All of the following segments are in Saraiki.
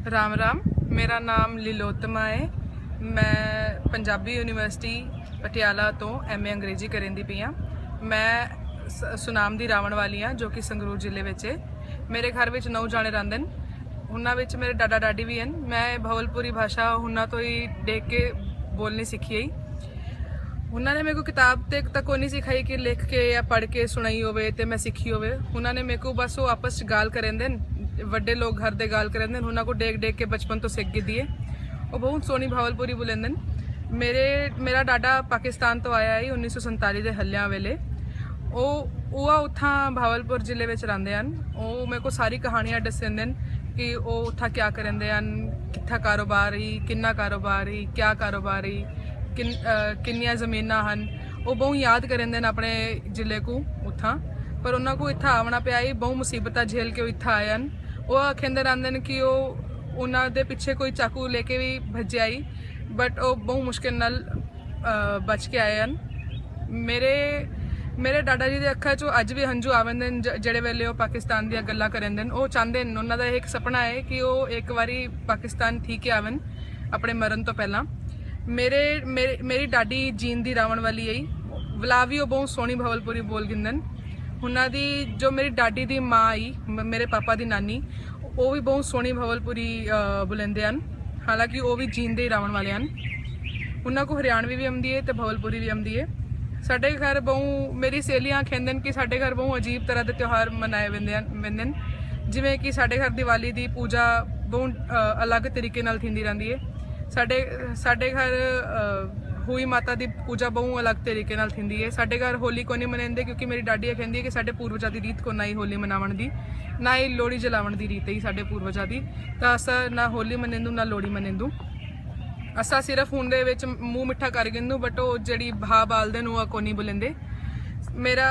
رام رام میرا نام لیلوتما ہے میں پنجابی یونیورسٹی پٹیالہ تو ایم اے انگریزی کریں دی پی ہاں میں سنام دی راون والی ہاں جو کہ سنگرور ضلع وچ ہے میرے گھر وچ نو جانے رہندے ہیں انہاں وچ میرے ڈاڈا ڈاڈی بھی ہیں میں بھولپوری بھاشا انہاں تو ہی دیکھ کے بولنی سیکھی ہی انہاں نے میکوں کتاب تے تک کوئی نہیں سکھائی کہ لکھ کے یا پڑھ کے سنائی ہوئے تے میں سکھی ہوئے انہاں نے میکوں بس وہ آپس چ گال کریں دن وڈے لوگ گھر دے گال کریں دن انہاں کو ڈیکھ ڈیکھ کے بچپن تو سکھ گی دیئے وہ بہت سونی بھاول پوری بولیں دن میرے میرا ڈاڈا پاکستان تو آیا ہے انیس سو سنتالی دے ہلیاں ویلے وہ وہ اتھاں بھاول پور ضلع وچ رہندے ہیں وہ میرے کو ساری کہانیاں ڈسیں دن کہ وہ اتھاں کیا کریں دے ہیں کتھا کاروبار ہی کنا کاروبار ہی کیا کاروبار ہئی، کنیاں زمیناں ہن، او بہوں یاد کریندن اپنے ضلعے کوں اتھاں پر انہاں کوں اتھاں آونڑاں پیا ہئی بہوں مصیبتاں جھیل کے او اتھاں آئے ہن۔ او آکھیندے رہندن کہ او انہاں دے پچھے کوئی چاقو لے کے وی بھجیا ہئی بٹ او بہوں مشکل نال بچ کے آئے ہن۔ میرے میرے ڈاڈا جی دے اکھاں چوں اج وی ہنجو آویندن جیڑھے ویلے او پاکستان دیاں گلاں کریندن۔ او چاہندن انہاں دا ہک سپنڑاں ہے کہ او ہک واری پاکستان تھی کے آون۔ اپنے مرن تو پہلاں میرے میری ڈاڈی جین دی راون والی آئی ولا بھی وہ بہت سونی بھول پوری بول گندن انہاں دی جو میری ڈاڈی دی ماں آئی میرے پاپا دی نانی وہ بھی بہت سونی بھول پوری بلندے ہیں حالانکہ وہ بھی جین دے راون والے ہیں انہاں کو ہریانوی بھی آمدی ہے تو بھول پوری بھی آمدی ہے ساڈے گھر بہت میری سہیلیاں کھیندن کہ ساڈے گھر بہت عجیب طرح دے تیوہار منائے ویندن جویں کہ ساڈے گھر دیوالی دی پوجا بہت الگ طریقے نال تھیندی رہندی ہے ساڈے ساڈے گھر ہوئی ماتا دی پوجا بہوں الگ طریقے نال تھیندی ہے ساڈے گھر ہولی کونی منیندے کیونکہ میری ڈاڈی یہ کہندی ہے کہ ساڈے پوروجا دی ریت کونہ ہی ہولی مناون دی نہ ہی لوڑی جلاون دی ریت ہی ساڈے پوروجا دی تا اسا نہ ہولی منیندوں نہ لوڑی منیندوں اساں صرف ہن دے وچ منہ مٹھا کر گھندوں بٹ او جڑی بھا بالدن او کونی بلیندے میرا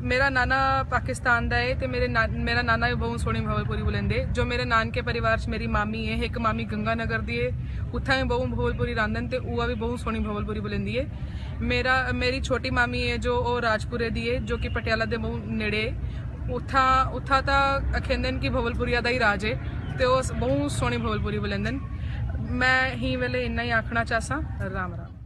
میرا نانا پاکستان دا ہے تے میرے میرا نانا بھی بہت سوہنی بھاول پوری بلیندے جو میرے نانکے پریوار چ میری مامی ہے ایک مامی گنگا نگر دی ہے اتھا بھی بہت بھاول پوری راندن تے اوہ بھی بہت سوہنی بھاول پوری بلیندی ہے میرا میری چھوٹی مامی ہے جو او راجپورے دی ہے جو کہ پٹیالہ دے بہت نیڑے ہے۔ اتھاں اتھاں تاں اکھیندن کہ بھول پوریا دا ہی راج ہے تے اوہ بہوں سوہنی بھول پوری بولیندن میں ہی ویلے انہاں ہی آکھنا چاہساں رام رام